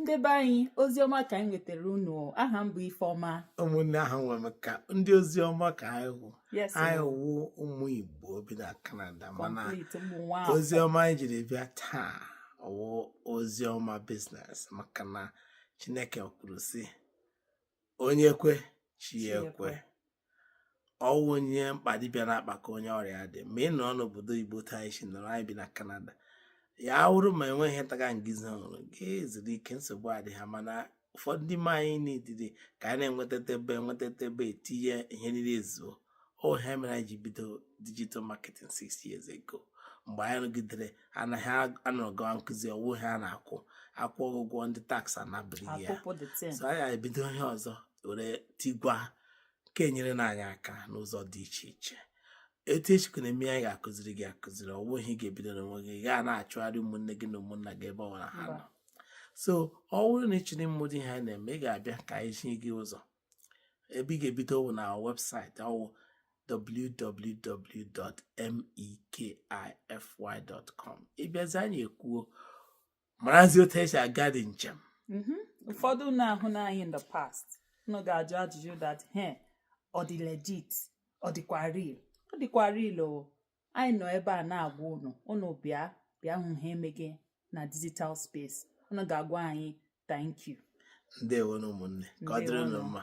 ndị be anyị ozi ọma ka anyị wetara unu aha m bụ Ifeọma ụmụnne ahụ nwere m ka ndị ozi ọma ka anyị wụ yes anyị wụ ụmụ Igbo bi na Kanada mana complete ụmụ nwa afọ. ozi ọma anyị jiri bịa taa wụ ozi ọma business maka na Chineke kwuru sị onye kwe chi ya ekwe ọ wụ onye mkpa dibịa na-akpakọ onye ọrịa dị ma ị nọrọ n'obodo igbo taa isi nọrọ anyị bi na kanada ya wụrụ ma enweghị ntaga ngizi ọhụrụ gị zuru ike nsogbu adị ha mana ụfọdụ ndị ma anyị n'idide ka anyị na-enweta ebe a nweta ebe a etinye ihe niile ezuo ọ ihe mere anyị ji bido digital marketing six years ago mgbe anyị rụgidere anaghị anọrọ gawa nkụzi ọ wụ ihe a na-akwụ akwụ ụgwọ ndị tax anapụrụ ya so anyị ebido ihe ọzọ were tigwa ka e nyere na anyị aka n'ụzọ dị iche iche etu e sikwa na-eme anyị ga-akụziri gị akụziri ọ wụghị ị ga-ebido n'onwe gị gaa na-achụgharị ụmụnne gị na ụmụnna gị ebe ọ bụla ha nọ so ọ bụrụ na ị chọrọ ịmụ ụdị ihe a na-eme ị ga-abịa ka anyị zi gị ụzọ ebe ị ga-ebido wụ na website ọ wụ www.mekify.com ị bịazie anyị ekwuo marazi otu e si aga ụdị njem mm-hmm. ụfọdụ ụnụ ahụna anyị in the past ụnụ ga-ajụ ajụjụ that ihe a ọ dị legit ọ dịkwa real ọ dịkwa real o anyị nọ ebe a na-agwa ụnụ ụnụ bịa bịa hụ ihe e meghe na digital space ụnụ ga-agwa anyị thank you ndewo nụ ụmụnne ka ọ dịrị ụnụ mma